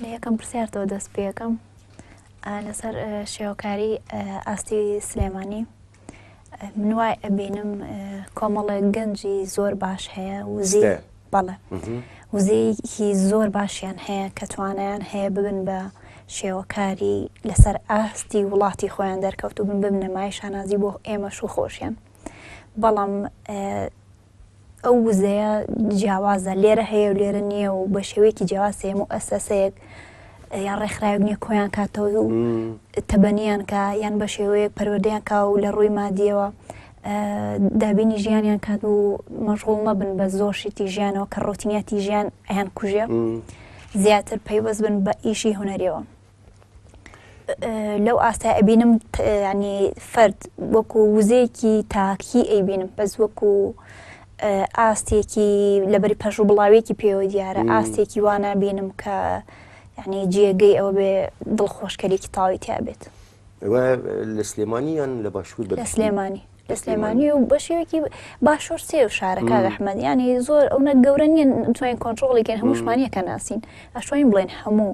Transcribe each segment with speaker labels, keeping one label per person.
Speaker 1: لە یەکەم پرسیارتەوە دەست پێەکەم لەسەر شێوەکاری ئاستی سلێمانی من وای ئەبینم کۆمەڵێک گەنجی زۆر باش هەیە وزی بەڵێ وزەیەکی زۆر باشیان هەیە کە توانیان هەیە ببن بە شێوەکاری لەسەر ئاستی وڵاتی خۆیان دەرکەوت و بن ببنەمای شانازی بۆ ئێمەش و خۆشیان بەڵام ئەو وزەیە جیاوازە، لێرە هەیە و لێرە نییە و بە شێوەیەکی جیاواز هەیە و ئەسەسەیەک یان ڕێکخراوێک نییە کۆیان کاتەوە و تەبەنیان کە یان بە شێوەیەک پەروەردەیان کا و لە ڕووی مادیەوە دابینی ژیانیان کات و مەژغوڵ مەبن بە زۆر شتی ژیانەوە کە ڕۆتینیاتی ژیان ئەیان کوژێ زیاتر پەیوەست بن بە ئیشی هوەریەوە. لەو ئاستای ئەبینم ینی فرد وەکو وزەیەکی تاکی ئەیبینم بەس وەکو ئاستێکی لەبەری پەش و بڵاوێکی پێوە دیارە ئاستێکی وانە بینم کە ینی جێگەی ئەوە بێ دڵخۆشکەرێکی تاوی تیا بێت
Speaker 2: لە سلێمانی یان لە باشوور لە سلێمانی
Speaker 1: لە سلێمانی و بەشێوێکی باشوور سێ و شارە کاک ئەحمەد یانی زۆر ئەونە گەورە نیە توانین کۆنتترۆڵی کەن هەمووشمانە کە ناسین ئەشوین بڵێن هەموو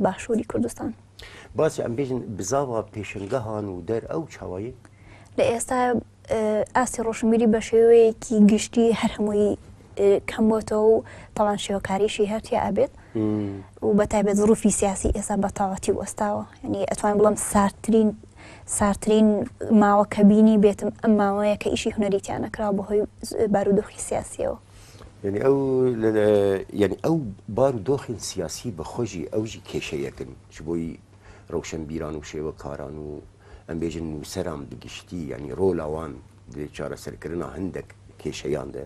Speaker 1: باشووری کوردستان باسی ئەم بێژن
Speaker 2: بزاوە پێشنگەهان و دەر ئەو چاوایی لە ئێستا
Speaker 1: ئاستی ڕۆشنبیری بە شێوەیەکی گشتی هەر هەمووی کەم بۆتەوە و تاوان شێوەکاریشی هەرتیا ئابێت و بە تایبەت ڕوفی سیاسی ئێستا بەتاواتی وەستاوە ینی ئەتوان بڵم ساردترین ساردترین ماوە کە بینی بێتم ئەم ماوەیە کە ئیشی هونەری تیا نەکراوە بەهۆی بارودۆخی سیاسیەوە. یعنی ئەو
Speaker 2: یعنی ئەو بار و دۆخین سیاسی بە خۆشی ئەوژی کێشەیەکن چ بۆی ڕەوشەن بیران و شێوە کاران و ئەمبێژن نووسەران بگشتی ینی ڕۆلاوان دێ چارەسەرکردنا هەندێک کێشەیان دێ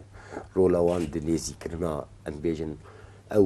Speaker 2: ڕۆلاوان دنێزیکردنا ئەمبێژن ئەو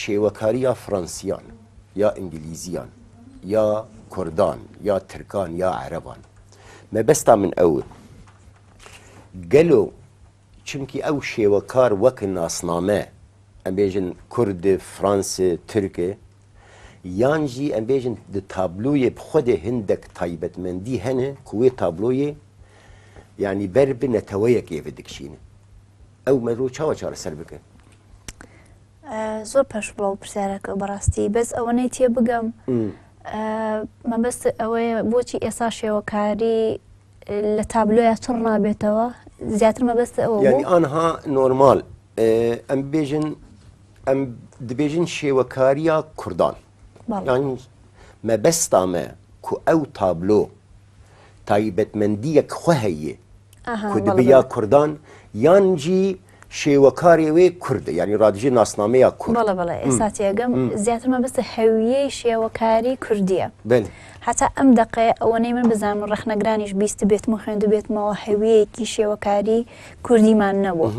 Speaker 2: شێوەکاری یا فڕەنسیان یا ئینگلیزیان یا کوردان یا ترکان یا عەرەبان مەبەستا من ئەو گەلۆ چونکی ئەو شێوەکار وەک ناسنامە ئەبێژن کورد فرانس ترکێ یانجی ئەبێژن تابلویە خودێ هندێک تایبەتمەندی هەنێ کوێ تابلۆیە یعنی بەر بنەتەوەیەکێ بدکشینە ئەو مەرۆ چاوە چارە سەر بکە.
Speaker 1: زۆر پەش بڵاو پرسیارەکە بەڕاستی بەس ئەوەنەی تێ بگەم مەبەست ئەوەیە بۆچی ئێسا شێوەکاری لە تابلۆە چڕ نابێتەوە زیاتر مەبەست ئەوە ئەها
Speaker 2: نۆرمال ئەم بێژن ئەم دبێژن شێوەکاریە کوردان یانی مەبەستامە کو ئەو تابلۆ تایبەتمەندیەک خوە هەیێ کو دبیا کوردان یان جی شێوەکارێ وێ کوردە یانی رادژێ ناسنامەیە کورد بەڵێ بەڵێ ئێستا تێگەم
Speaker 1: زیاتر مەبەستە هەویەی شێوەکاری کوردیە بەێ حتا ئەم دقێ ئەوەنەی من بزانم و ڕخنەگرانیش بیست بێتم و خوێندو بێتمەوە هەویەیەکی شێوەکاری کوردیمان نەبوو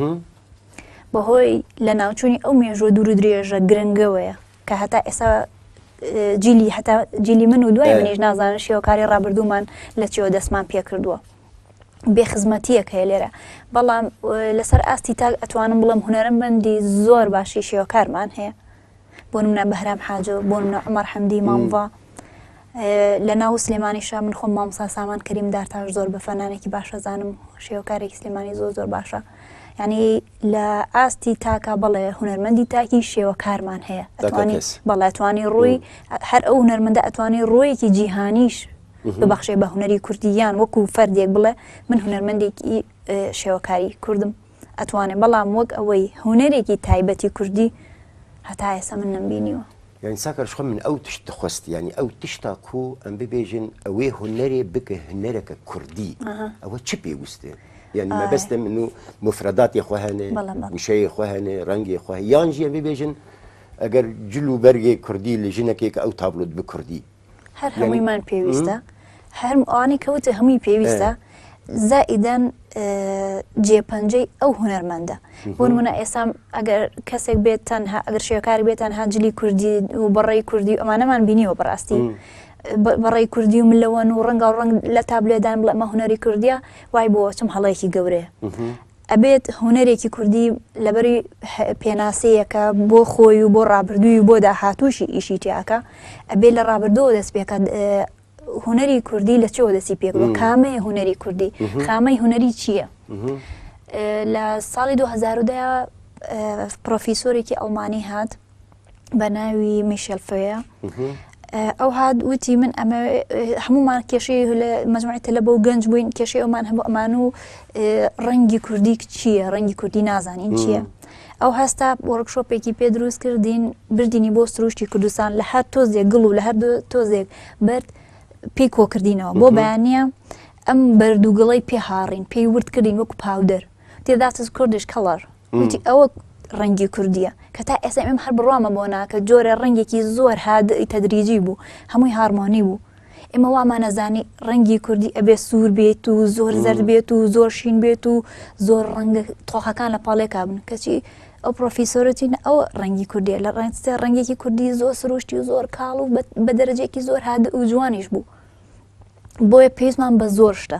Speaker 1: بەهۆی لە ناوچووی ئەو مێژوە دوور درێژە گرنگەوەیە کە هەتا ئێسا جیلی هەتا جیلی من و دوای منیش نازانن شێوەکاری ڕابردوومان لە چێوە دەستمان پێکردووە. بێخزمەتیەک هەیە لێرە بەڵام لەسەر ئاستی تاک ئەتوانم بڵم هوەرمەندی زۆر باشی شێوەکارمان هەیە بۆ منە بەهرام حاجۆ بۆ منە عمر حەمدی مامڤ لە ناو سلێمانیشە من خۆم مامۆسا سامان کەریم دارتاش زۆر بە فەنانێکی باشە زانم شێوەکارێکی سلێمانی زۆر زۆر باشە ینی لە ئاستی تاکە بەڵێ هوەرمەندی تاکی شێوەکارمان هەیە ئەتوانی بەڵێتوانی ڕووی هەر ئەو هوەرمەندە ئەتوانی ڕۆیەکی جیهانیش ببخشێ بە هوەری کوردیان وەکو فەردێک بڵێ من هوەرمەندێکی شێوەکاری کوردم ئەتوانێ بەڵام وەک ئەوەی هونەرێکی تایبەتی کوردی هەتا ئێستا من نەمبینیوە. یانی ساکار شخۆ
Speaker 2: من ئەو تشت دخوست یانی ئەو تشتا کو ئەم ببێژن ئەوێ هونەرێ بک هنەرەکە کوردی ئەوە چ پێوستێ یانی مەبەستێ من و موفرەداتێ خۆ هەنێ وشەیێ خۆ هەنێ ڕەنگێ خۆ یان ژیێ ببێژن ئەگەر جل و بەرگێ کوردی لە ژنەکێ کە ئەو تابلۆت بکوردی هەر هەموویمان
Speaker 1: پێویستە هەر ئەوانەی کەوتە هەمووی پێویستە زائیدەن جێپەنجەی ئەو هوەرمەندە بۆن منە ئێسام ئەگەر کەسێک بێت تەنها ئەگەر شێکار بێتان هاجلی کوردی و بەڕێی کوردی ئەمانەمان بینیەوە بەڕاستی بەڕێی کوردی و ملەوەن و ڕەنگە و ڕنگ لە تابلێدان بڵێ مە هوەری کوردیا وای بۆ چم هەڵەیەکی گەورەیە ئەبێت هونەرێکی کوردی لەبەر پێناسەیەکە بۆ خۆی و بۆ ڕابردووی و بۆ داهاتووشی ئیشی تیاکە ئەبێت لە ڕابردەوە دەست پێکات هونەری کوردی لە چەوە دەستی پێک بە کامەیە هونەری کوردی خامەی هونەری چییە لە ساڵی 2010 پرۆفیسۆرێکی ئەڵمانی هات بە ناوی میشل فەیە ئەو هاات وتی من ئەمە هەمومان کێشی لە مەزمای تەلە بۆ گەنج بووین کێشی ئەومان هەموو ئەمان و ڕەنگی کوردی چییە ڕەنگی کوردی نازانین چییە ئەو هەستا وەرکشۆپێکی پێ دروست کردین بردینی بۆ سروشتی کوردستان لە هەر تۆزێک گڵ و لە هەر تۆزێک بەرد پێی کۆکردینەوە بۆ بەیانە ئەم بەردووگڵی پێ هاڕین پێی وردکردین وەکو پاودەر تێداتز کوردش کەڵەر وتی ئەوە ڕەنگی کوردیە کە تا ئێستا ئەم هەر بڕوامە بۆ ناکە جۆرە ڕەنگێکی زۆر هادئی تەدریجی بوو هەمووی هارمۆنی بوو ئێمە وامانەزانی ڕەنگی کوردی ئەبێ سوور بێت و زۆر زەر بێت و زۆر شین بێت و زۆر ڕەنگ تۆخەکان لە پاڵێ کابن کەچی ئەو پرۆفیسۆرەتین ئەو ڕەنگی کوردی لە ڕێنسێ ڕەنگێکی کوردی زۆر سروشتی و زۆر کاڵ و بە دەرەجێکی زۆر هاد و جوانیش بوو بۆیە پێیزمان بە زۆر شتە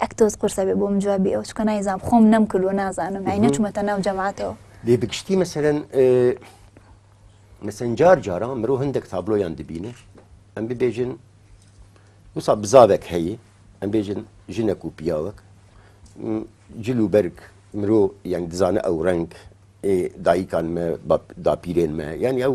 Speaker 1: ئەک تۆز قورسە بێ بۆم جوابی ئەو چکە نایزام خۆم نەم کردووە نازانم ئای نەچمەتە ناو جەماعاتەوە لێ بگشتی مەسەرەن
Speaker 2: مەسەن جار جارە مرۆ هەندێک تابلۆیان دەبینێ ئەم ببێژن وسا بزاوێک هەیە ئەم بێژن ژنەک و پیاوەک جل و بەرگ مرۆ یان دزانە ئەو ڕنگ دایکان داپیرێن مە یان ئەو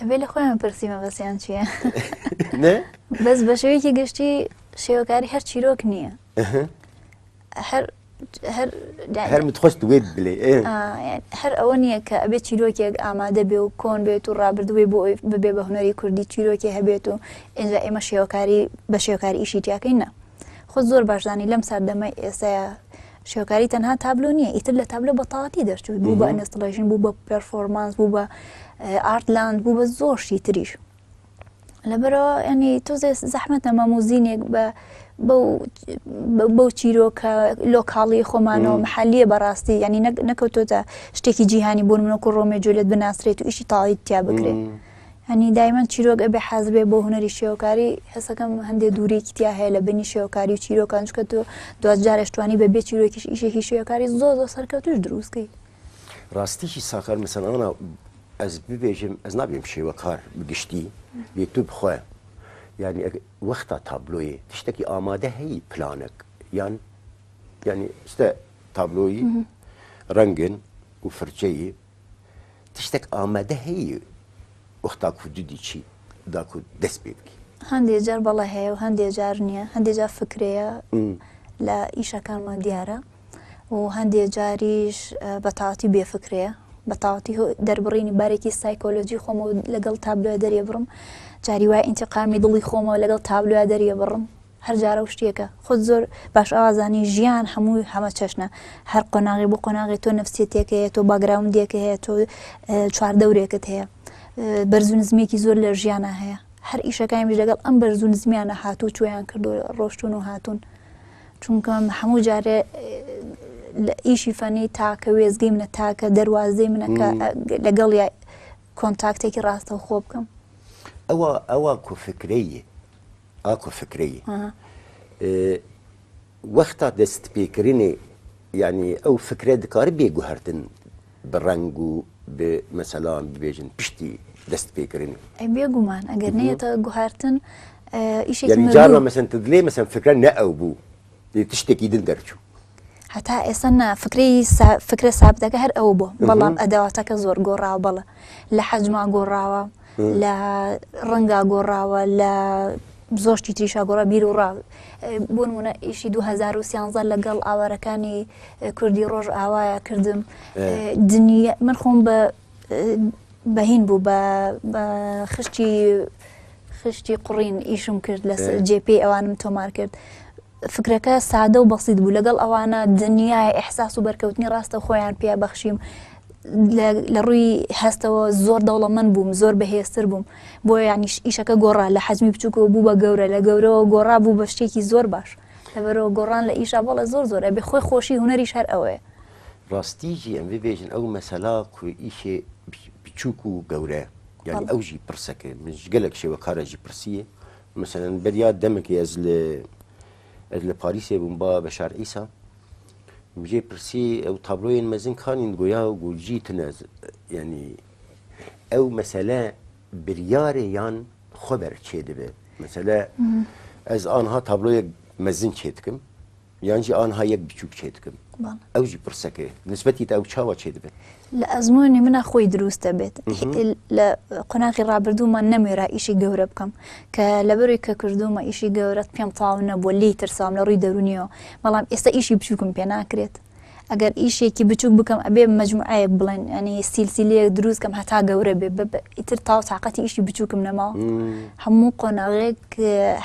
Speaker 2: ئەبێ
Speaker 1: لە خۆیان پرسی مەبەسیان چییە
Speaker 2: بەس بە شێوەیەکی
Speaker 1: گشتی شێوەکاری هەر چیرۆک نییە
Speaker 2: هەر هەر خۆشت وێت بلێ هەر ئەوە
Speaker 1: نییە کە ئەبێت چیرۆکێک ئامادە بێ و کۆن بێت و ڕابردووی بۆ ببێ بە هوەری کوردی چیرۆکی هەبێت و ئێجا ئێمە شێوەکاری بە شێوکاری ئیشی تیاکەین نە خۆ زۆر باشزانانی لەم ساردەمە ئێستا شێوەکاری تەنها تابلۆ نییە ئیتر لە تابلۆ بە تاواتی دەرچووی بوو بە ئەنستڵێژن بوو بە پرفۆرمانس بوو بە ئارتلاند بوو بە زۆرشی تریش لەبەرەوە ئەنی تۆزێ زەحمت نەمە موزینێک بە بەو چیرۆکە لۆکاڵی خۆمانەوە محلیە بەڕاستی ینی نەکەوتۆتە شتێکی جیهانی بۆن منۆکو ڕۆمێ جولێت بناسرێت و ئیشی تاڵیتیا بکرێت. یانی دایمەن چیرۆک ئەبێ حازبێ بۆ هوەری شێوەکاری هەسەکەم هەندێ دوورێکی تیا هەیە لە بینی شێوەکاری و چیرۆکان چکە تۆ دوجارشتوانی بە بێ چیرۆکیش ئیشێکی شێوەکاری زۆ زۆ سەرکەوتوش دروستکەی ڕاستیی
Speaker 2: ساکار مسەلمانە ئەس ببێژم ئەس نابێم شێوەکار بگشتی بێ تو بخۆە یعنی وەختا تابلۆی تشتێکی ئامادە هەیە پلانێک یان ینی شتە تابلۆی ڕەنگن و فرچەیە تشتێک ئامادە هەیە وەختا کو جدی چی داکو دەست پێ بکی. هەندێ جار بەڵێ
Speaker 1: هەیە و هەندێ جار نییە هەندێ جار فکرەیە لە ئیشەکانمان دیارە و هەندێ جاریش بە تاواتی بێ فکرەیە بە تاواتی دەربڕینی بارێکی سایکۆلۆجی خۆمە لەگەڵ تابلۆە دەرێ بڕم جاری وای ئینتقامی دڵی خۆمەوە لەگەڵ تابلوە دەرێ بڕم هەر جارەو شتێکە خۆت زۆر باش ئەوازانی ژیان هەمووی هەمە چەشنە هەر قۆناغی بۆ قۆناغی تۆ نفسیتێک هەیە تۆ باگراوندێک هەیە تۆ چواردەورێکت هەیە بەرزو نزمێکی زۆر لە ژیانە هەیە هەر ئیشەکانیش لەگەڵ ئەم بەرزو نزمیانە هاتوو چۆیان کردو ڕۆشتون و هاتوون چونکە هەموو جارێ لە ئیشی فەنی تاکە وێزگەی منە تاکە دەواازەی منەکە لەگەڵ کۆنتاکتێکی ڕاستە خۆ بکەم ئەوە
Speaker 2: ئەوە کوفکرەیە ئاکۆ فکرەیی وەختا دەست پێکردنی یعنی ئەو فکرە دکارە بێ گوهرتن بە ڕنگ و بێ مەسەلان ببێژن پشتی دەست پێکردن بێگومان
Speaker 1: ئەگەر نێتە گوهرتن ئیشجار مەسن
Speaker 2: دلێ مەسن فکرە نە ئەو بوو دیت شتێکی دن دەرچوو. هەتا
Speaker 1: ئێستا نا فکرەی سا فکرە سابتەکە هەر ئەوە بووە بەڵام ئەداواتەکە زۆر گۆڕاوە بەڵێ لە حەجما گۆڕاوە لە ڕەنگا گۆڕاوە لە زۆر شتی تریشا گۆڕا بیر و ڕا بۆ نمونە ئیشی 2013 لەگەڵ ئاوارەکانی اه، کوردی ڕۆژ ئاوایە کردم اه، دنیا من خۆم بە بەهین بوو بە خشتی خشتی قڕین ئیشم کرد لە جێ پێی ئەوانم تۆمار کرد. فکرەکە سادە و بەسیید بوو لەگەڵ ئەوانە دنیای ئەحساس و بەرکەوتنی ڕاستە خۆیان پێ بەخشیم لە ڕووی هەستەوە زۆر دەوڵەمەند بووم زۆر بەهێزتر بووم بۆ ینیش ئیشەکە گۆڕا لە حەزمی بچووکەوە بوو بە گەورە لە گەورەوە گۆڕا بوو بە شتێکی زۆر باش لەبەرەوە گۆڕان لە ئیشە بەڵە زۆر زۆرە بێ خۆی خۆشی هوەری شەر ئەوەیە ڕاستی ژی
Speaker 2: ئەم ببێژن ئەو مەسەلا کوئیشێ بچووک و گەورە یعنی ئەو ژی پرسەکە من گەلک شێوە کارەژی پرسیە مثلەن بەریا دەمەکی ئەز لە ئەز لە پاریسێ بووم با بە شار ئیسا بژێ پرسی ئەو تابلۆێن مەزن کانین گویا و گوژی تنەز یعنی ئەو مەسەلە بریارێ یان خۆبەر چێ دەبێت مەسەلە ئەز آنها تابلۆێک مەزن چێتکم یان جی ئانها یەک بچووک چێ دکم ئەو جی پرسە کێ نسبەتی تا ئەو چاوە چێ دبێ لە ئەزمونی
Speaker 1: منە خۆی دروست دەبێت لە قۆناغی ڕابردوومان نەمێرا ئیشی گەورە بکەم کە لەبەروی کە کردومە ئیشی گەورەت پێم تاو نەبووە لی ترسام لە ڕووی دەرونیەوە بەڵام ئێستا ئیشی بچووکم پێ ناکرێت ئەگەر ئیشێکی بچوک بکەم ئەبێ مەجموعەیەک بڵێن ئەنی سیلسیلەیەک دروست کەم هەتا گەورە بێ بە ئیتر تاو تااقەتی ئیشی بچووکم نەماوە هەموو قۆناغێک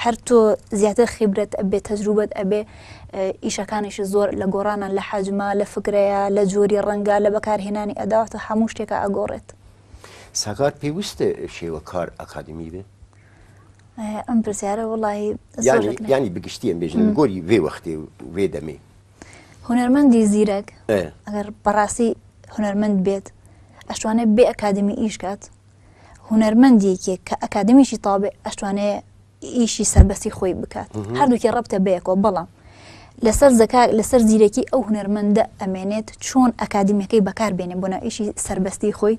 Speaker 1: هەر تۆ زیاتر خیبرەت ئەبێ تەجروبەت ئەبێ ئیشەکانیش زۆر لە گۆڕانە لە حەجما لە فکرەیە لە جۆری ڕەنگە لە بەکارهێنانی ئەداواتە هەموو شتێکە ئەگۆڕێت ساگات
Speaker 2: پێویستە شێوە کار ئەکادمی بێت
Speaker 1: ئەم پرسیارە وڵی ینی
Speaker 2: بگشتی ئەم بێژن گۆری وێ وەختێ وێ دەمێ هونەرمەندی
Speaker 1: زیرەک ئەگەر بەڕاستی هونەرمەند بێت ئەشتوانێت بێ ئەکادمی ئیش کات هونەرمەندێکێک کە ئەکادمیشی تاابێ ئەشتوانێ ئیشی سەربەسی خۆی بکات هەردووکی ڕبتە بەیەکەوە بەڵام لەسەر زەکار لەسەر زیرەکی ئەو هونەرمەندە ئەمێنێت چۆن ئەکادمیەکەی بەکار بێنێ بۆ ناویشی سربەستی خۆی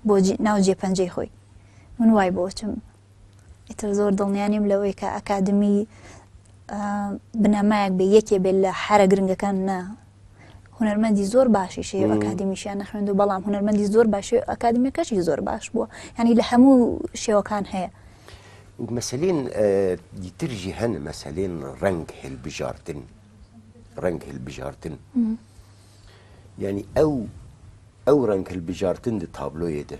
Speaker 1: بۆ ناو جێ پەنجەی خۆی من وای بۆچم ئیتر زۆر دڵنیا نیم لەوەی کە ئەکادمی بنەمایەک بێ یەکێ بێت لە حرە گرنگەکان نا هونەرمەندی زۆر باشی شێ ئەکادمیشیان نەخوێند و بەڵام هونەرمەندی زۆر باشێ ئەکادمیەکەشی زۆر باش بووە ینی لە هەموو شێوەکان هەیە مەسلین
Speaker 2: دیترژی هەن مەسلین ڕنگ هلبژارتن ڕنگ هلبژارتن ینی ئەو ئەو ڕنگ هلبژارتن دە تابلۆیە دە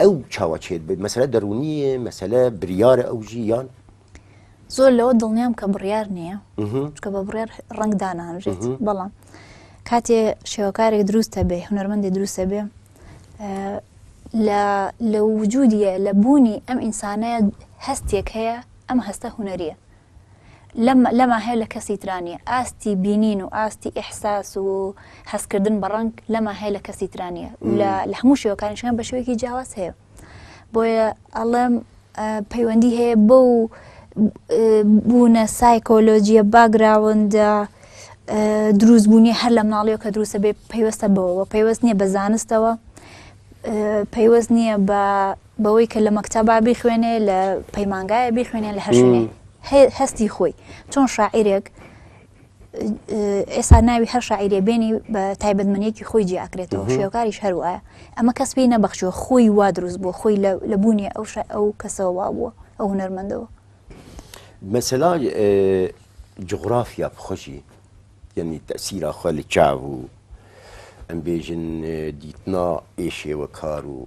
Speaker 2: ئەو چاوە چێت بێت مەسەلە دەرونیە مەسەلە بریارە ئەو ژیان زۆر
Speaker 1: لەوە دڵنیام کە بڕیار نییە چکە بە بڕێر ڕنگ دانانژێت بەڵام کاتێ شێوەکارێک دروستە بێ هونەرمەندی دروستە بێ لە وجودیە لە بوونی ئەم ئینسانەیە هەستێک هەیە ئەم هەستە هوەریە لەم لەما هەیە لە کەسی ترا نییە ئاستی بینین و ئاستی ئیحساس و هەستکردن بە ڕەنگ لەما هەیە لە کەسی ترا نییە لە لە هەموو شێوەکانیشیان بە شێوەیەکی جیاواز هەیە بۆیە ئەڵێم ئە، پەیوەندی هەیە بەو ئە، بوونە سایکۆلۆجییە باگراوندە ئە، دروست بوونی هەر لە مناڵیەوە کە دروستە بێ پەیوەستە بەوەوە پەیوەست نییە بە زانستەوە ئە، پەیوەست نییە بە بەوەی کە لە مەکتەبا بیخوێنێ لە پەیمانگایە بیخوێنێ لە هەرشوێنێ هەستی خۆی چۆن شاعیرێک ئێستا ناوی هەر شاعیرێ بێنی بە تایبەتمەنیەکی خۆی جیاکرێتەوە شێوکاریش هەروە ئەمە کەس پێی نەبەخشوە خۆی وا دروست بۆ خۆی لە بوونی ئەو ئەو کەسەوە وا بووە ئەو هونەرمەندەوە
Speaker 2: مەسەلا جغرافیا بخۆشی یعنی تەسیرا خۆ لە چاو و ئەمبێژن دیتنا ئێشێوە کار و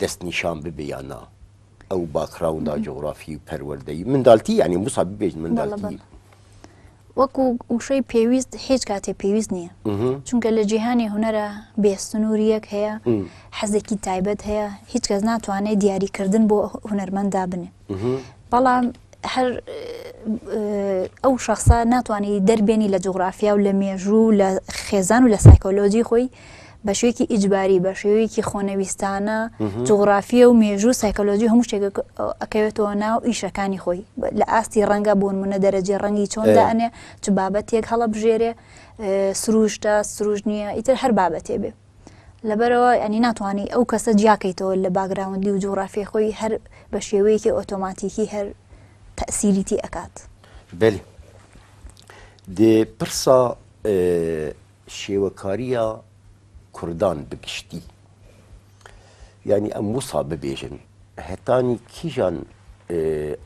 Speaker 2: دەستنیشان ببێ یا نا ئەو باکڕاوندا جۆغرافی و پەروەردەی مندالتی یعنی موسا ببێژ مندالتی
Speaker 1: وەکو وشەی پێویست هیچ کاتێ پێویست نییە چونکە لە جیهانی هوەرە بێ سنووریەک هەیە حەزێکی تایبەت هەیە هیچ کەس ناتوانێت دیاریکردن بۆ هوەرمەندا بنێ بەڵام هەر ئەو شخصە ناتوانانی دەربێنی لە جوگرافیا و لە مێژوو لە خێزان و لە سایکۆلۆجی خۆی بە شوێکی ئیجباری بە شێوەیەکی خۆنەویستانە جوگرافیە و مێژوو سایکۆلۆژی هەموو شتێک ئەکەوێتەوە ناو ئیشەکانی خۆی لە ئاستی ڕەنگە بوون منە دەرەجێ ڕەنگی چۆن دانێ چ بابەتێک هەڵە بژێرێ سروشتە سروش نییە ئیتر هەر بابەتێ بێ لەبەرەوە ئەنی ناتوانانی ئەو کەسە جیاکەیتەوە لە باگراوندی و جوغرافی خۆی هەر بە شێوەیەکی ئۆتۆماتیکی هەر تەسیریتی ئەکات بەێ
Speaker 2: دێ پرسا شێوەکاریە کوردان بگشتی ینی ئەم وسا ببێژن هەتانی کیژان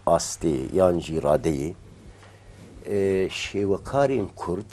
Speaker 2: ئاستێ یان ژیرادەیە شێوەکارین کورد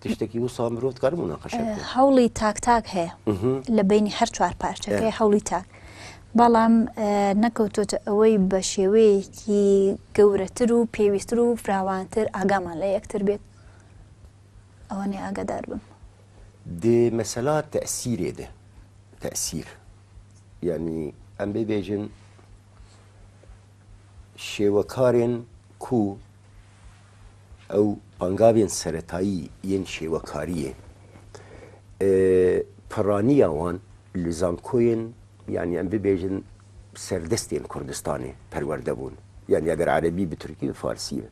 Speaker 2: تشتێکی وسا مرۆڤ کار مناقشە هەوڵی تاک تاک
Speaker 1: هەیە لە بینی هەر چوار پارچەکەی هەوڵی تاک بەڵام نەکەوتۆتە ئەوەی بە شێوەیەکی گەورەتر و پێویستتر و فراوانتر ئاگامان لە یەکتر بێت ئەوەنێ ئاگادار بم دێ
Speaker 2: مەسەلا تەسیرێ دێ تەسیر یعنی ئەم بێبێژن شێوەکارێن کو ئەو ئانگاوێن سەرەتایی یێن شێوەکاریێ پرانیا وان لە زانکۆێن یان یان ببێژن سەردەستێن کوردستانێ پەروەردە بوون یان ئەگەر عەرەبی بە تورکی بە فارسی بە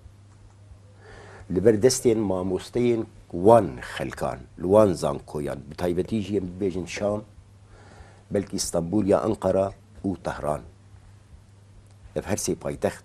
Speaker 2: لە بەر دەستێن مامۆستەێن وان خەلکان لە وان زانکۆیان بە تایبەتی ژێن ببێژن شام بەلکی ئیستەنبول یا ئەنقەرە و تەهران لە هەرسێ پایتەخت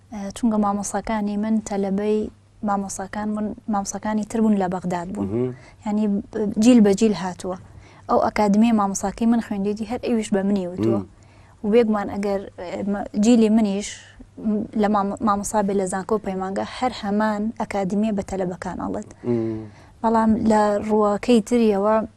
Speaker 1: چونکە مامۆساکانی من تەلەبەی مامۆساکان بوون مامساکانی تر بوون لە بەغداد بوون ینی جیل بە جیل هاتووە ئەو ئەکادمی مامۆساکەی من خوێندێتی هەر ئەویش بە منی وتووە وێگومان ئەگەر جیلی منیش لە مامۆسا بێ لە زانکۆ پەیمانگە هەر هەمان ئەکادمیە بە تەلەبەکان ئەڵێت بەڵام لە ڕووەکەی تریەوە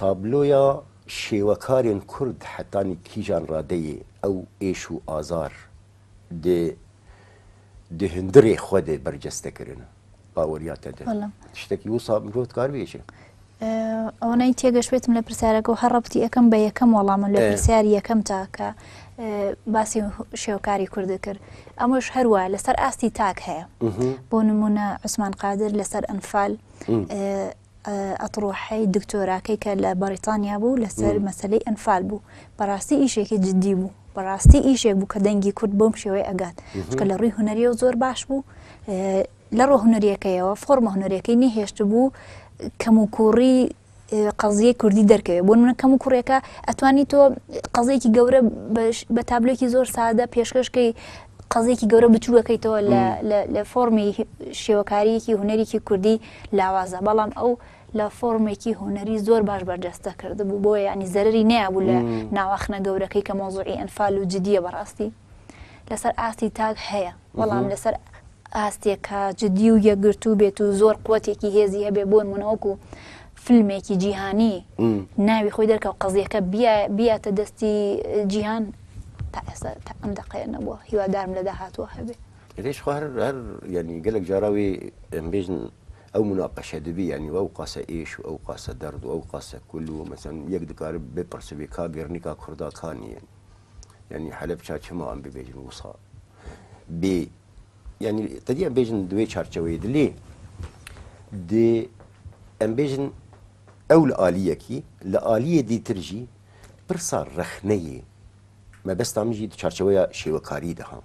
Speaker 2: تابلۆیا شێوەکارێن کورد حەتانی کیژان ڕادەێ ئەو ئێش و ئازار دێ دێ هندڕێ خوە دێ بەرجەستە کرن باوەریا تە دێ شتەکی وسا مرۆت کار بێژێ ئەوەی
Speaker 1: تێگەشتێتم لە پرسیارەکە هەر ڕبتی ئەەکەم بە یەکەم وەڵام لە پرسیار یەکەم تاکە باسی شێوکاری کوردە کرد ئەمەش هەروە لەسەر ئاستی تاک هەیە بۆ نمونە عوسمان قادر لەسەر ئەنفال ئەتڕوحەی دکتۆراکەی کە لە بەڕیتانیا بوو لەسەر مەسلەی ئەنفال بوو بەڕاستی ئیشێکی جددی بوو بەڕاستی ئیشێک بوو کە دەنگی کورد بۆم شێوەی ئەگات چکە لە ڕووی هوەریە و زۆر باش بوو لە ڕۆ هوەریەکەیەوە فۆرمە هوەرەکەی نەهێشت بوو کەم و کوڕی قەزیە کوردی دەرکەوێت بۆ منە کەم و کوڕێکە ئەتوانی تۆ قەزێکی گەورە بە تابلێکی زۆر سادە پێشکەشکەی قەزێکی گەورە بچووەکەیتەوە لە فۆمی شێوەکاریەکی هوەرێکی کوردی لاوازە بەڵام ئەو لە فۆرمێکی هونەری زۆر باش بەرجەستە کردبوو بۆ یعنی زەرری نەیەبوو لە ناواخنە گەورەکەی کە مۆزوعی ئەنفال و جددیە بەڕاستی لەسەر ئاستی تاک هەیە بەڵام لەسەر ئاستێکە جددی و یەکگرتوو بێت و زۆر قوتێکی هێزی هەبێ بۆن منەوەکو فیلمێکی جیهانی ناوی خۆی دەرکە و قەزیەکە بیاتە دەستی جیهان تا ئێستا ئەم دقەیە نەبووە هیوادارم لە داهاتوە هەبێت. ليش خو هەر
Speaker 2: هەر یانی گەلەک جارا وی ئەم بێژن ئەو مناقشە دەبی یانی ئەو قاسە ئێش و ئەو قاسە دەرد و ئەو قاسە کول و مەسەن یەک دکار بپرسبی کا گرنیکا کوردا کا نیە یانی حەلەب چا چما ئەم ببێژن وسا بێ یانی تەدی ئەم بێژن دوێ چارچەوەی دلی دێ ئەم بێژن ئەو لە ئالیەکی لە ئالیە دیترژی پرسا ڕەخنەیە مەبەستامیژی چارچەوەیە شێوەکاری دەهام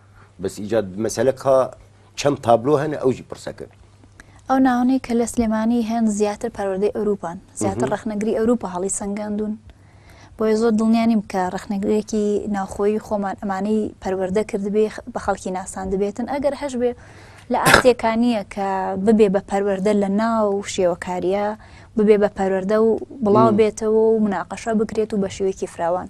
Speaker 2: بەس ئیجا مەسەلە کا چەند تابلۆ هەنە ئەوجی پرسە کرد. ئەو ناوانەی
Speaker 1: کە لە سلێمانی هەن زیاتر پەروەردەی ئەوروپان زیاتر ڕەخنەگری ئەوروپا هەڵی سەنگاندون بۆیە زۆر دڵنیا نیم کە ڕەخنەگرێکی ناوخۆی خۆمان ئەمانەی پەروەردە کردبێ بە خەڵکی ناساندبێتن ئەگەر هەش بێ لە ئاستێکا نییە کە ببێ بە پەروەەردە لە ناو شێوەکاریە ببێ بە پەروەەردە و بڵاو بێتەوە و مناقەشە بکرێت و بە شێوەیەکی فراوان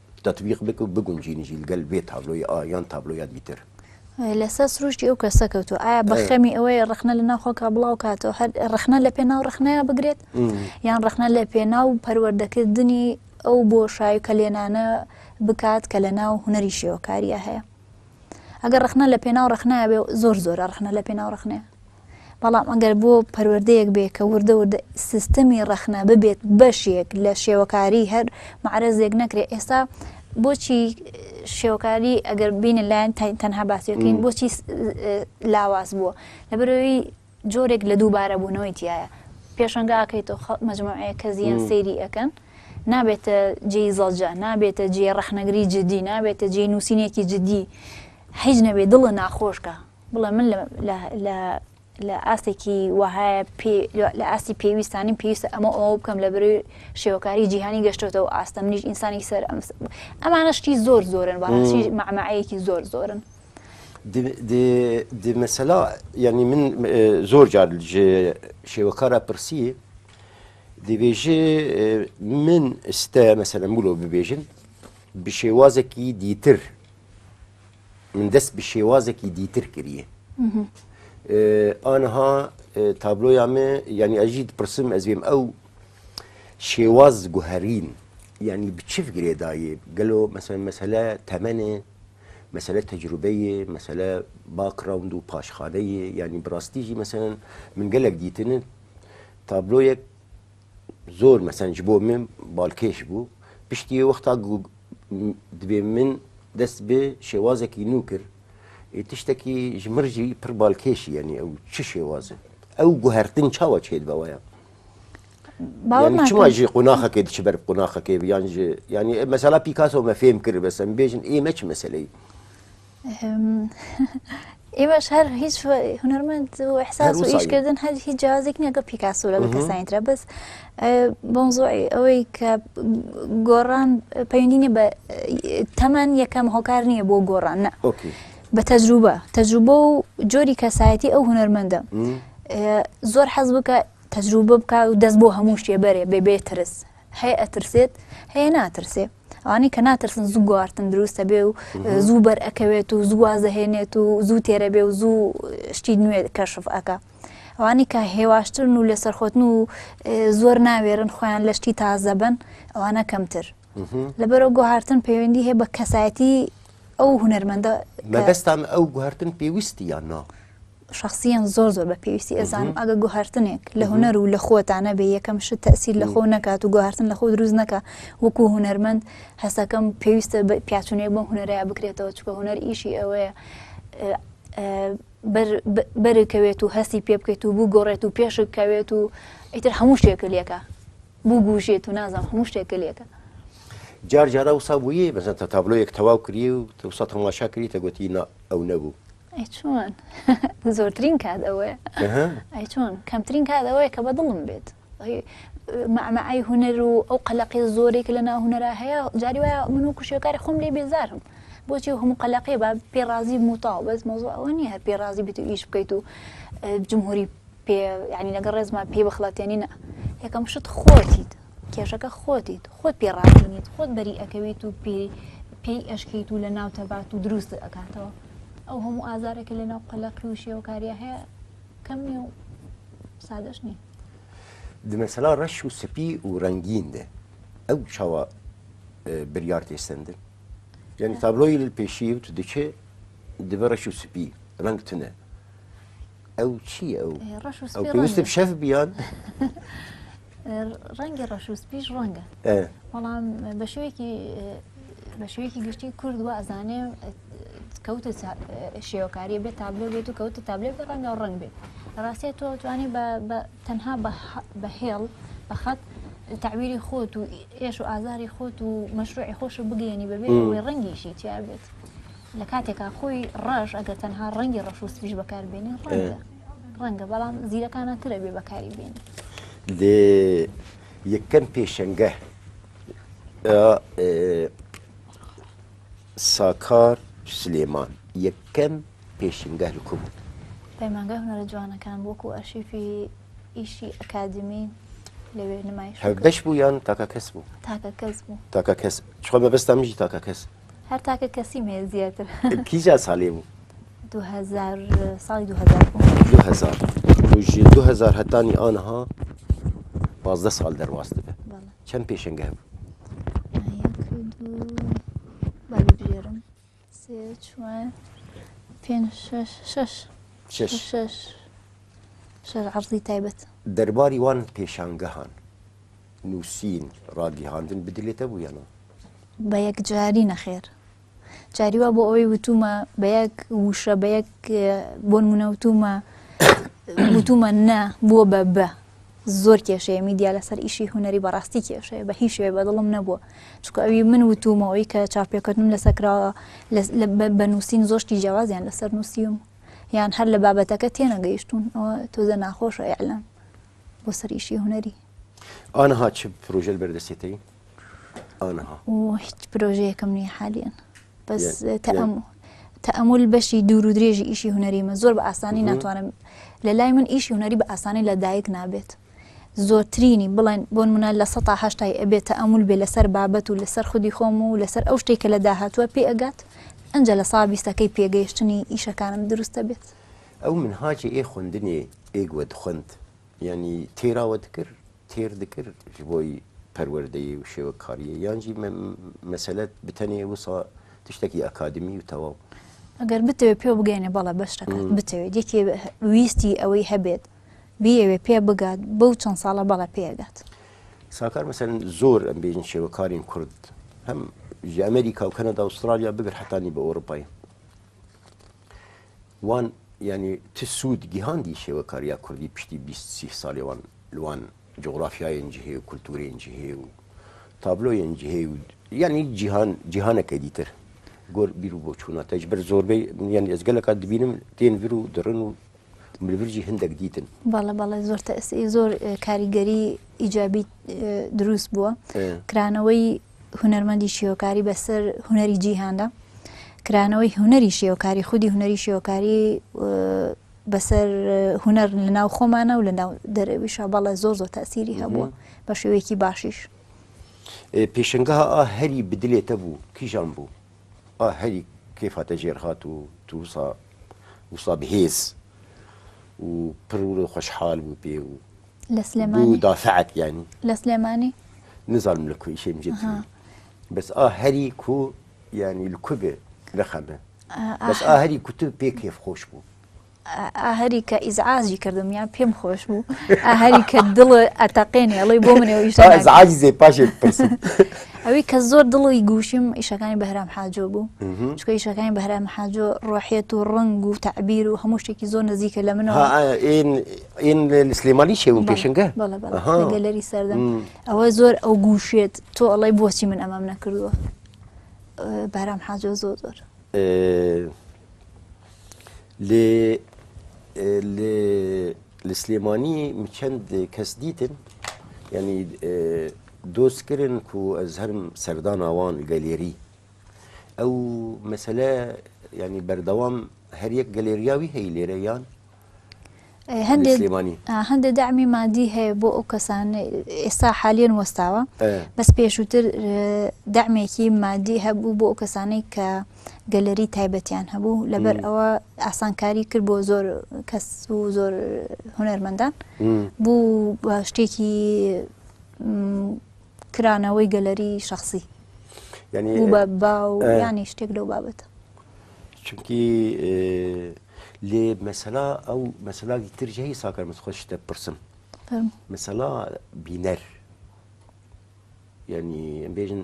Speaker 2: تەتبیق بک و بگونجینی جی لگەل ڤێ تابلۆی ئا یان تابلۆیادی تر. لەسەر
Speaker 1: سروشتی ئەو کەسە کەوتووە ئایا بە خەمی ئەوەیە ڕخنە لە ناوخۆکە بڵاو کاتەوە هەر ڕخنە لە پێناو ڕخنەیە بگرێت یان ڕخنە لە پێناو پەروەردەکردنی ئەو بۆشای کە لێنانە بکات کە لە ناو هوەری شێوەکاریە هەیە ئەگەر ڕخنە لە پێناو ڕخنایە بێ زۆر زۆرە ڕخنە لە پێناو ڕخنەیە بەڵام ئەگەر بۆ پەروەردەیەک بێ کە وردە وردە سیستەمی ڕخنە ببێت بەشێک لە شێوەکاری هەر معرەزێک نەکرێت ئێستا بۆچی شێوەکاری ئەگەر بینە لایەن تەنها باسیەکەین بۆچی لاواز بووە لەبەرەوەی جۆرێک لە دووبارە بوونەوەی تیایە پێشەنگا ئەکەیتەوە خەڵک مەجموعەیە کە زیان سەیری ئەەکەن نابێتە جێی زەڵجە نابێتە جێ ڕەخنەگری جدی نابێتە جێ نووسینێکی جدی حیج نەبێ دڵە ناخۆشکە بڵێ من لە ئاستێکی وەهایە لە ئاستی پێویستانی پێویستە ئەمە ئەوە بکەم لە بەروی شێوەکاری جیهانی گەشتێتەوە ئاستە منیش ئینسانی سەر ئەم ئەمانە شتی زۆر زۆرن بەڕاستی مەعمەعەیەکی زۆر زۆرن. دی
Speaker 2: مەسەلا یعنی من زۆر جار شێوەکارە پرسی دەبێژێ من ئستە مەسەلەن بلۆ ببێژن بە شێوازێکی دیتر من دەست بە شێوازێکی دیتر کردە ئانها تابلۆیامێ ینی ئەژیت پرسم ئەزێم ئەو شێواز گوهرین ینی بچف گرێدایێ گەلۆ مەسەن مەسەلە تەمەێ مەسەلە تەجروبەیێ، مەسەلە باکڕاوند و پاشخانەیێ، یانی بڕاستی ژی مەسەلەن من گەلەک دیتنن تابلۆیەک زۆر مەسەن ژ بۆ من باڵکێش بوو، پشتیێ وەختا گوو دبێ من دەست بێ شێوازەکی نوو کرد، ئێ تشتەکی ژ مڕ ژی پڕ باڵکێشی یانی ئەو چ شێوازن ئەو گوهەرتن چاوا چێد بەوەیە؟ چما ژێ قۆناخەکەی دچ بەر قۆناخەکەی بیان ژێ ینی مەسەلا پیکاسەوە مە فێم کرد بەسم بێژن ئێمە چ مەسلەی
Speaker 1: ئێمەش هەر هیچ هونەرمەند و احساس و ئیشکردن هەر هیچ جیازێک نیە گە پیکاسو لە کەسانیترە بەس بۆنزۆی ئەوەی کە گۆڕان پەیوەندینە بە تەمەەن یەکەم هۆکار نییە بۆ گۆڕان نە بە تەجروبە تەجروبە و جۆری کەسایەتی ئەو هونەرمەندە زۆر حەز بکە تەجروبە بکا و دەست بۆ هەموو شتێ بەرێ بێ بێ ترس هەیە ئەترسێت هەیە ناترسێ ئەوانەی کە ناترسن زوو گوارتن دروستە بێ و زوو بەر ئەکەوێت و زوو وازەهێنێت و زوو تێرە بێ و زوو شتی نوێ کەشف ئەکا ئەوانی کە هێواشترن و لەسەر خۆتن و زۆر ناوێرن خۆیان لە شتی تازە بن ئەوانە کەمتر لەبەرەوە گوهارتن پەیوەندی هەیە بە کەسایەتی ئەو هوەرمەندە مەبەستان ئەو
Speaker 2: گوهارتن پێویستی یان نا شەخسیەن
Speaker 1: زۆر زۆر بە پێویستی ئەزانم ئەگە گوهرتنێک لە هوەر و لە خۆتان نەبێ یەکەم شت تەسیر لە خۆ نکات و گوهرتن لە خۆ دروست نەکە وەکو هوەرمەند هەستەکەم پێویستە پیاچونێک بۆ هوەرەیە بکرێتەوە چکە هوەر ئیشی ئەوەیە بەرکەوێت و هەستی پێ بکەیت و بوو گۆڕێت و پێشک کەوێت و ئیتر هەموو شتێکە لەکە بوو گوژێت و نازان هەموو شتێکە لەکە جار
Speaker 2: جارا وسا بووی بەزەنتە تابلۆیەک تەواو کری و تەسە تەماشا کریتە گوتی ئەو نەبوو ئەی چۆن
Speaker 1: زۆرترین کات ئەوەیە ئەی چۆن کەمترین کات ئەوەیە کە بە دڵم بێت مەمەعی هوەر و ئەو قەلەقی زۆرێک لە ناو هوەرا هەیە جاری وایە من و کوشیەکاری خۆم لێ بێزارم بۆچی هەموو قەلەقێ بە پێڕازی موتاو بەس مۆزۆ ئەوە نیە هەر پێڕازی بێت و ئیش بکەیت و جمهوری پێ ینی لەگە ڕێزمان پێی بەخڵاتێنینە یەکەم شت خۆتیت کێشەکە خۆتیت خۆت پێڕاستنیت خۆت بەری ئەەکەویت و پێی پێی ئەشکیت و لە ناو تەبات و دروست ئەکاتەوە ئەو هەموو ئازارە کە لەناو قەلەقی و شێوەکاریە هەیە کەم نیە و سادەش نیە دمەسەلا
Speaker 2: ڕەش و سپی و ڕەنگین دێ ئەو چاوە بریار تێستندن یعنی تابلۆی پێشی و دکێ دبە ڕەش و سپی ڕنگ تنە ئەو چییە ئەو؟ ئەی ڕەش و ئەو سپی پێویستە ڕەنگە. شەف بیان
Speaker 1: ڕەنگی ڕەش و سپیش ڕەنگە ئە، بەڵام بە شێوەیەکی بە شێوەیەکی گشتی کورد وا ئەزانێ کەوتە چا- شێوەکاریە بێت تابلۆ بێت و کەوتە تابلۆ بێ ڕەنگا و ڕەنگ بێت ڕاستە تۆ توانی بە بە- تەنها بە حە- بە هێڵ بە خەت تەعبیری خۆت و ئێش و ئازاری خۆت و مەشروعی خۆشت بگەیەنی بەبێ ئەوەی ڕەنگیشی تیا بێت. لە کاتێکا خۆی ڕەش ئەگەر تەنها ڕەنگی ڕەش و سپیش بەکاربێنی ڕەنگە ڕەنگە بەڵام زیرەکانە ترە بێ بەکاری بێن لێ
Speaker 2: یەکەم پێشەنگە ساکار سلێمان یەکەم پێشنگە لکو بوو پەیمانگە هونەرە
Speaker 1: جوانەکان وەکو ئەرشیفی ئیشی ئەکادمی لەوێ نمایش بەش بوو یان تاکە
Speaker 2: کەس بوو تاکە کەس بوو
Speaker 1: تاکە کەس چۆ
Speaker 2: بەبستان میژی تاکە کەس هەر تاکە کەسیم
Speaker 1: هەیە زیاتر کیجا ساڵێ بوو
Speaker 2: ساڵی 2000 هەتانی ئانها پازدە ساڵ دەرواست بێ چەند پێشنگە هەبوو
Speaker 1: شش عرضی تایبەت دەرباری وان
Speaker 2: پێشانگەهان نووسین، ڕاگیهاندن بدلێتە بوو یا نا؟ بە
Speaker 1: یەکجاری نەخێر. جاری وا بۆ ئەوەی وتومە بە یەک وشە بە یەک بۆن منەوتومە وتومە نە بووە بە بە زۆر کێشەیە میدیا لەسەر ئیشی هوەری بەڕاستی کێشەیە بە هیچ شێ بەدڵم نەبووە چکە ئەوی من وتومەوەی کە چاپێکردنم لەسەکراوە بە نووسین زۆشتی جیاوازیان لەسەر نووسیم یان هەر لە بابەتەکە تێنەگەیشتون ئەوە تۆزە ناخۆشە ئەلام بۆ سەریشی هوەری ئانها
Speaker 2: چ پرۆژەل بەردەستێتەی ئانها هیچ
Speaker 1: پرۆژەیەکەم نیە حالیان بەس تەم تەمول بەشی دوور و درێژی ئیشی هوەریمە زۆر بە ئاسانی ناتوانم لە لای من ئیشی هوەری بە ئاسانی لە دایک نابێت زۆرترینی بڵێن بۆن منە لە 1970 ئەبێت تەمول بێ لەسەر بابەت و لەسەر خودی خۆم و لەسەر ئەو شتێک کە لە داهاتوە پێ ئەگات ئەجا لە سا بیستەکەی پێگەیشتنی ئیشەکانم دروستە بێت ئەو منهاجی
Speaker 2: ئێ خوندنی ئێگوە دخند یانی تێراوە دکر تێر دکر ژ بۆی پەروەردەیی و شێوە کاریە یانجی مەسەلەت بتەنێ وسا تشتێکی ئەکادمی و تەواو ئەگەر بتەوێت
Speaker 1: پێ بگەینە بەڵە بەشتەکە بتەوێت یەکێ ویستی ئەوەی هەبێت بیەوێ پێ بگات بەو چەند ساڵە بەڵە پێگات ساکار
Speaker 2: مەسەن زۆر ئەم بێژن شێوەکارین کورد هەم ژ ئەمریکا و کەنەدا ئوسترالیا بگەر حتانی بە ئەوروپای وان یانی چ سوود گیهاندی شێوەکاریا کوردی پشتی بیست سی سالی وان لوان جوغرافیایەنجی هەیە و کولتوورێنجی هەیە و تابلۆیەنجی هەیە و یانی جیهان جیهانەکە دیتر گۆر بیر و بۆچووناتەج بەر زۆربەی یان ئێزگەلەکە دبینم تێن ور و دڕن و ملورجی هندێک دیتن بەڵە بەڵێ زۆر
Speaker 1: تەسی زۆر کاریگەری ئیجابی دروست بووە کرانەوەی هونەرمەندی شێوەکاری بەسەر هونەری جیهاندا کرانەوەی هونەری شێوەکاری خودی هونەری شێوەکاری بەسەر هونەر لە ناو خۆمانە و لە ناو دەرەویشە بەڵێ زۆر زۆر تاسیری هەبووە بە شێوەیەکی باشیش
Speaker 2: پێشنگا ئا هەری بدلێتە بوو کیژان بوو ئا هەری کێفاتە ژێر هاات و تووسا وسا بهێز و پرور و خۆشحال بوو پێ و لە سلێمانی
Speaker 1: دا سعات یانی
Speaker 2: لە سلێمانی
Speaker 1: نزانم لە
Speaker 2: کوی شێم جێت بەس ئا هەری کو یانی کوێ لە خەمە بەس ئا هەری کوت پێ کێف خۆش بوو ئاهری
Speaker 1: کە ئیزعاجی کردم یان پێم خۆش بوو ئاهری کە دڵ ئەتەقێنێ ئەڵی بۆ منێزعاجی زێ پاش
Speaker 2: ئەوی کە
Speaker 1: زۆر دڵی گوشیم ئیشەکانی بەهرام حاجۆ بوو چکە ئیشەکانی بەهرام حاجۆ ڕۆحێت و ڕنگ و تعبیر و هەموو شتێکی زۆر نزیکە لە منەوە ئین
Speaker 2: لە سلێمانی چێ بوو پێشنگە بەڵێ بەڵێ ئەها. لە گەلەری
Speaker 1: سەردەم م. ئەوە زۆر ئەو گووشێت تۆ ئەڵێی بۆچی من ئەمەم نەکردووە ئە، بەرام حاجۆ زۆر زۆر ئێ، لێ
Speaker 2: ئێ، لێ لە سلێمانی م چەند کەس دیتن یانی ئێ دۆست کرن کو ئەز هەرم سەردان ئەوان گەلێری ئەو مەسەلە یانی بەردەوام هەر یەک گەلێریاوی هەی لێرە یان؟
Speaker 1: هەندێک دامی مادی هەیە بۆ ئەو کەسان ئێستا حالیان وەستاوە بەس پێشووتر دامێکی مادی هەبوو بۆ ئەو کەسانەی کە گەلەری تایبەتیان هەبوو لەبەر ئەوە ئاسانکاری کرد بۆ زۆر کەس و زۆر هونەرمەندان بوو بە شتێکی کرانەوەی گەلەری شخصی ینی بە باو ینی شتێک لەو بابەتە چونکی
Speaker 2: لێ مەسەلا ئەو مەسەلا دیتر هەیە ساکار مەس خۆش شتە پرسم مەسەلا بینەر یعنی بێژن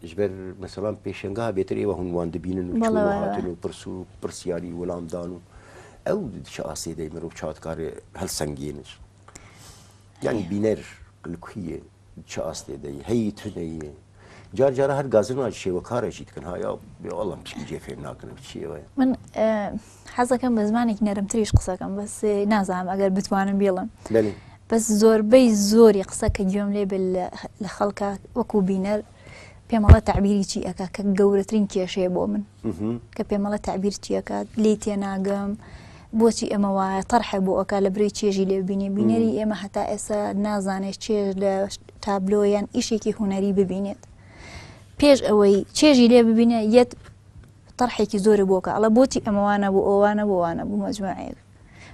Speaker 2: ژبەر مەسەڵام پێشنگا بێتر ئێوە هەمووان دەبینن و هاتن و پرس و پرسیاری وەڵامدان و ئەو چ ئاسێ دەی مرۆڤ چاتکارێ هەلسەنگێنش یعنی بینەر لکویە چ ئاستێ دەی هەی تر دەیێ جار جارە هەر گازرمان شێوە کارێکی تکن هایا بێڵم چی جێ فێر ناکەن چیەوەە من
Speaker 1: حەزەکەم بە زمانێکی نەرمتریش قسەکەم بەس نازانم ئەگەر بتوانم بیڵم بەس زۆربەی زۆری قسە کە گوێم لێ لە خەڵکە وەکو بینەر پێمەڵە تعبیری چی ئەکا کە گەورەترین کێشەیە بۆ من کە پێمەڵە تعبیر چیەکات لی تێناگەم بۆچی ئەمە وایە تەرحە بۆ ئەکا لە بری چێژی لێبینێ بینەری ئێمە هەتا ئێستا نازانێت چێژ لە تابلۆیان ئیشێکی هوەری ببینێت پێش ئەوەی چێژی لێ ببینە یەت تەرحێکی زۆر بۆکە ئەڵە بۆچی ئەمەوانە بۆ ئەوانە بۆوانە بوو مەجموعەیەک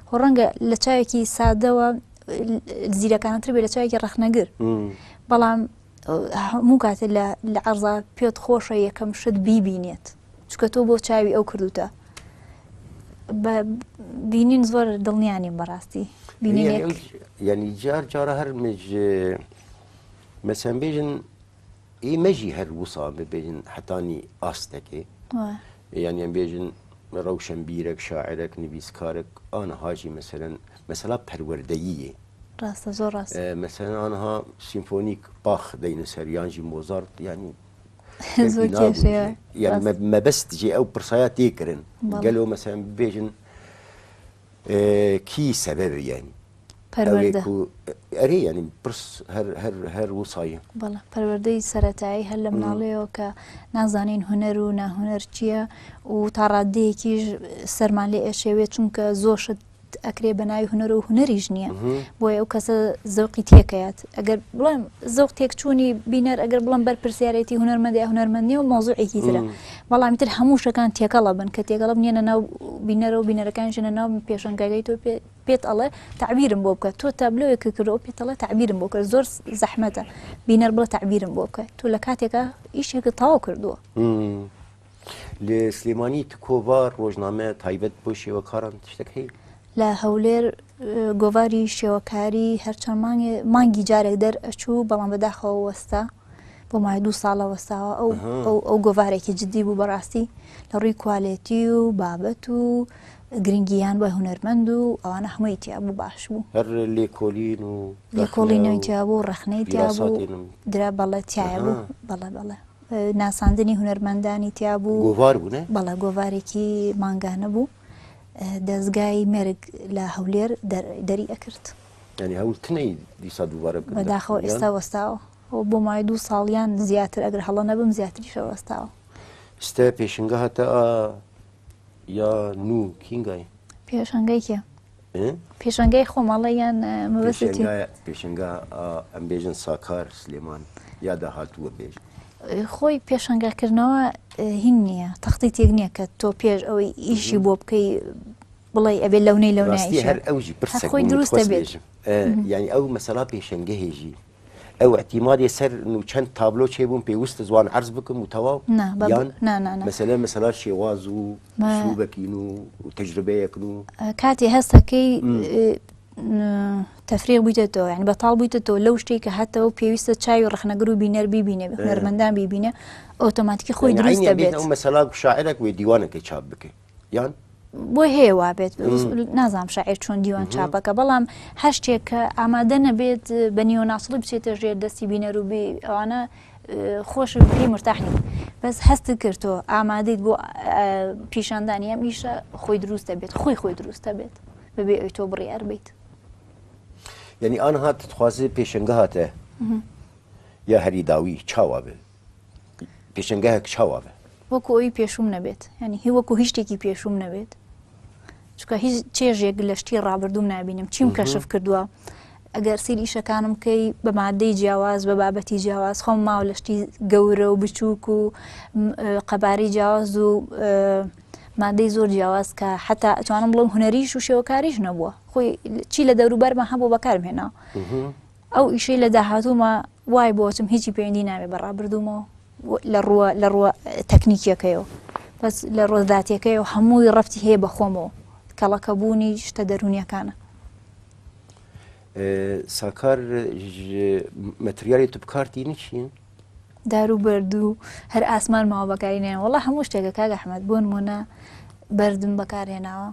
Speaker 1: خۆ ڕەنگە لە چاوێکی سادەوە زیرەکانتر بێ لە چاوێکی ڕخنەگر بەڵام هەموو کاتێ لە لە عەرزا پێت خۆشە یەکەم شت بیبینێت چکە تۆ بۆ چاوی ئەو کردوتە بە بینین زۆر دڵنیانیم بەڕاستی
Speaker 2: ینی جار جارە هەر مژ مەسەن بێژن ئی مەژی هەر وسا ببێژن حتانی ئاستەکێ یان یان بێژن ڕەوشەن بیرەک شاعرەك نویسکارێک ئاە هاژی مەسەرەن مەسەلا پەروەردەییە ڕاستە زۆر
Speaker 1: ڕاستە. مەسەلەن ئانها
Speaker 2: سیمفۆنیک باخ دەینوسەر یانژی مۆزارت یانی زۆر کێشەیە. یان ڕاست. مە- مەبەست جێ ئەو پرسایە تێکردن بەڵێ. گەلۆ مەسەن بێژن کی سەبەب یانی پەروەردە. ئەوێک و ئەرێ یانی پرس هەر هەر هەر وسایە. بەڵێ پەروەردەی
Speaker 1: سەرەتایی هەر لە مناڵەیەوە کە نازانین هونەر و ناهونەر چییە و تا ڕاددەیەکیش سەرمان لێ ئەشێوێ چونکە زۆر شت ئەکرێ بە ناوی هونەر و هونەریش نییە بۆیە ئەو کەسە زەوقی تێکەیات ئەگەر بڵێم زەوق تێکچوونی بینەر ئەگەر بڵم بەر پرسیارەتی هونەرمەندی هونەرمەندی و مۆزوعێکی ترە بەڵامی تر هەموو شەکان تێکەڵە بن کە تێکەڵە نیە ناو بینەرە و بینەرەکان ژنە ناو پێشنگەگەی تۆ پێت ئەڵێ تعبیرم بۆ بکە تۆ تابلۆێک کرد و پێتەڵە تعبیرم بۆ کرد زۆر زەحمەتە بینەر بڵە تعبیرم بۆ بکە تۆ لە کاتێکە ئیشێکە تاو کردووە.
Speaker 2: لە سلێمانی تکۆڤار ڕۆژنامە تایبەت بۆ شێوەکاران تشتێک هەیە لە هەولێر
Speaker 1: گۆڤاری شێوەکاری هەرچەند مانگێ مانگی جارێک دەر ئەچوو بەڵام بەداخەوە وەستا بۆ مای دوو ساڵە وەستاوە ئەو ئەها. ئەو ئەو گۆڤارێکی جددی بوو بەڕاستی لە ڕووی کوالێتی و بابەت و گرنگیان بە هونەرمەند و ئەوانە هەمووی تیا بوو باش بوو هەر لێکۆلین
Speaker 2: و لێکۆڵی رەخنە و نەوتیا
Speaker 1: بوو ڕەخنەی تیا بوو پیراساتێنم. درا بەڵێ تایە بوو ئەها. بەڵێ بەڵێ ناساندنی هونەرمەندانی تیا بوو گۆڤار بوو نە؟ بەڵێ
Speaker 2: گۆڤارێکی
Speaker 1: مانگانە بوو دەزگای مەرگ لە هەولێر دەری ئەکرد ینی هەول تنەی
Speaker 2: دیسا دووبارە بکە بەداخەوە ئێستا
Speaker 1: وەستاوە ئەو بۆ مای دوو ساڵیان زیاتر ئەگەر هەڵە نەبم زیاتری شەوەستاوە ستە
Speaker 2: پێشنگە هەتا یا نوو کینگای پێشنگەی کێ؟
Speaker 1: پێشنگای خۆمەڵە یان پێشنگا
Speaker 2: ئەمبێژن ساکار سلێمان یا داهاتووە پێش خۆی
Speaker 1: پێشنگاکردنەوە هین نییە تەختی تێک نییە کە تۆ پێش ئەوەی ئیشی بۆ بکەی بڵێ ئەبێ لەونەی لەوناستی هەر ئەوژی پرسەکەی
Speaker 2: دروستە
Speaker 1: بێژم یعنی ئەو
Speaker 2: مەسەلا پێشنگە هێژی ئەو ئیعتیمادی سەر نوو چەند تابلۆ چێ بووم پێوست زوان عەرز بکم و تەواو نا بە یان نا نا نا مەسەلە مەسەلا شێواز و مە- سلوبەکین و تەجربەیەکن و کاتی هەستەکەی
Speaker 1: تەفرێ بوویتەوە یعنی بەتاڵ بوویتەوە لەو شتێک کە هەتەوە پێویستە چاوی ڕخنەگر و بینەر بیبینێ بە هونەرمەندان بیبینە ئۆتۆماتیکی خۆی یعنی دروست عینیان دەبێت بێتە ئەو مەسەلا شاعرێک
Speaker 2: وێ دیوانەکەی چاپ بکەی یان بۆی هەیە
Speaker 1: وابێت نازانام شاعر چۆن دیوان چاپەکە بەڵام هەر شتێک کە ئامادە نەبێت بە نیۆناسڵی بچێتە ژێر دەستی بینەروبی ئەوانە خۆش بی مرتاحنی بەس هەست کردۆ ئامادەیت بۆ پیشاندانی ئەم ئیشە خۆی دروستە بێت خۆی خۆی دروستە بێت بەبێ ئەوی تۆ بڕی ئەربیت
Speaker 2: یعنی ئان هات تخوازێ پێشنگە هاتێ یا هەری داوی چاوا بێت پێشەنگایە کچ هەوا بێ وەکو ئەوی پێشوم
Speaker 1: نەبێت ینی هی وەکو هیچ شتێکی پێشوم نەبێت چکە هیچ چێژێک لە شتی ڕابردوم نبینم چیم کەشف کردووە ئەگەر سیر ئیشەکانم کەی بە مادەی جیاواز بە بابەتی جیاواز خۆم ماوە لە شتی گەورە و بچووک و قەباری جیاواز و مادەی زۆر جیاواز کە حتا ئەتوانم بڵم هوەریش و شێوەکاریش نەبووە خۆی چی لە دەوروبەرمە هەبوو بەکارمێنا ئەو ئیشەی لە داهاتووما وای بۆ ئەچم هیچی پەیوەندی نابێ بە ڕابردوومە و لە ڕووە لە ڕووە تەکنیکیەکەیەوە بەس لە ڕۆ ذاتیەکەی و هەمووی ڕەفتی هەیە بە خۆمەوە کەڵەکەبوونی شتە دەرونیەکانە ساکار
Speaker 2: مەتریالی توپکارتی نچین دار و
Speaker 1: بەرد و هەر ئاسمان ماوە بەکاری نێن وڵا هەموو شتێکە کاگە حمەد بۆن مۆنا بەردم بەکارهێناوە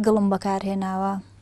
Speaker 1: گڵم بەکارهێناوە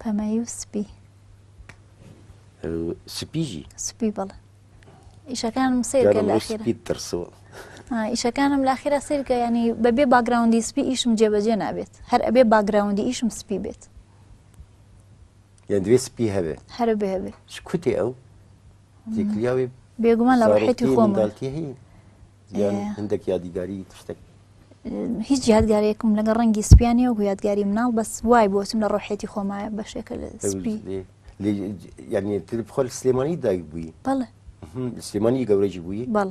Speaker 1: پەمەیی و سپی.
Speaker 2: سپیژی؟ سپی بەڵێ.
Speaker 1: ئیشەکانم سیرکە لە ئەخیرا ترسوە
Speaker 2: ئیشەکانم
Speaker 1: لە ئەخیرا سیرکە ینی بەبێ باگراوندی سپی ئیشم جێبەجێ نابێت هەر ئەبێ باگراوندی ئیشم سپی بێت
Speaker 2: یان دوێ سپی هەبێت هەر بێ هەبێت
Speaker 1: کوتێ ئەو
Speaker 2: زیکلیاوی بێگومان لە
Speaker 1: ڕحێتی خۆمەتی هەیە
Speaker 2: یان هەندێک یادیگاری تشتێک هیچ
Speaker 1: یادگارێکم لەگە ڕەنگی سپیانی و یادگاری مناڵ بەس وای بۆچم لە ڕۆحێتی خۆمایە بەشێکە لە سپی
Speaker 2: یعنی تر خۆل سلێمانی دایک بووی بەڵێ
Speaker 1: سلێمانی
Speaker 2: گەورەی بووی بەڵ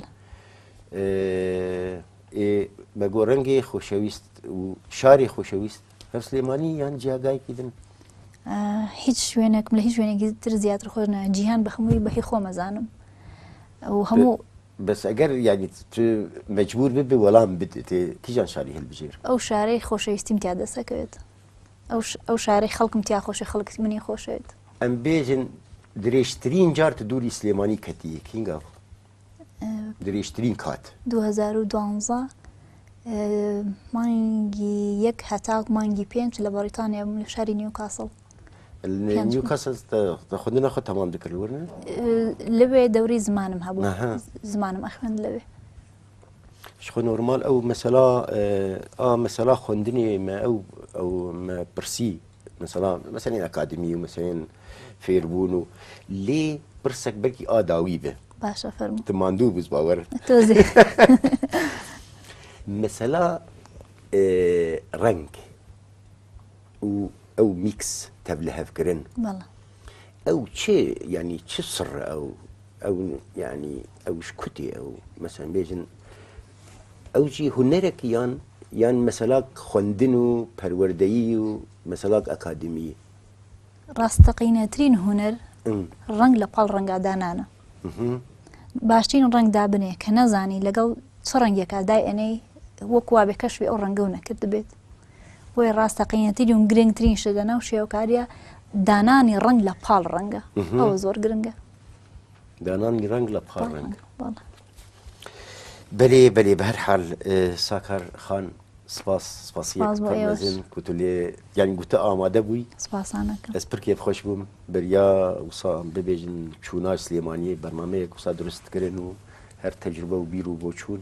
Speaker 2: بە گۆ ڕەنگی خۆشەویست و شاری خۆشەویست هەر سلێمانی یان جیاگایکی دن هیچ شوێنێکم
Speaker 1: لە هیچ شوێنێکی تر زیاتر خۆش نە جیهان بە هەمووی بەهی خۆمەزانم و هەموو بەس ئەگەر
Speaker 2: یانی تو مەجبور ببی وەڵام بدەێ کیژان شاری هەلبژێر. ئەو شارەی خۆشەویستیم
Speaker 1: تیا دەست ئەکەوێت ئەو شارەی خەڵکم تیا خۆشە خەڵک منی خۆشەوێت. ئەم بێژن
Speaker 2: درێژترین جار تو دوری سلێمانی کەتیە کینگا بو درێژترین کات. دوو هەزار و دوانزە
Speaker 1: مانگی یەک هەتاک مانگی پێنج لە بەڕیتانیا بووم لە شاری نیوکاسڵ.
Speaker 2: نیوکەسل خوندنە خۆ تەمام دەکرد وەرنە لەوێ
Speaker 1: دەوری زمانم هەبوو زمانم ئەخوێند لەوێ
Speaker 2: خۆ نۆرمال ئەو مەسەلا ئا مەسەلا خوندنی ئێمە ئەو ئەو پرسی مەسەلا مەسەنین ئەکادمی و مەسەێن فێربوون و لێ پرسێک بەکی ئاداوی بێ باشە فەرم تماندوو
Speaker 1: بووز باوەر
Speaker 2: مەسەلا ڕنگ و ئەو میکس تەڤ لە هەڤ گرن بەڵێ. ئەو چێ یانی چ سڕ ئەو ئەو یانی ئەوش کوتی ئەو مەسەن بێژن ئەو جی هونەرەک یان یان مەسەلاک خوەندن و پەروەردەیی و مەسەلاک ئەکادمی ڕاستەقینەترین
Speaker 1: هونەر ڕەنگ لە پاڵ ڕەنگا دانانە باشترین ڕەنگ دابنێ کە نەزانی لەگەڵ چ ڕەنگێکا دای ئەنەی وەکوا بێ کەشوی ئەو ڕەنگە و نەکرد بێت بۆیە ڕاستەقینەتی دوم گرنگترین شت لە ناو شێوکاریە دانانی ڕنگ لە پاڵ ڕەنگە ئەوە زۆر گرنگە دانانی
Speaker 2: ڕنگ لە پاڵ ڕنگ بەێ بەێ بە هەر حال ساکار خان سپاس سپاسیزن کوتلێ یان گوتە ئامادە بووی ئەس پرکێ
Speaker 1: خۆش بووم
Speaker 2: بەریا وسا ببێژن چووناش سلێمانی بەرنمەیەک وسا دروستکردن و هەر تەجربە و بیر و بۆ چوون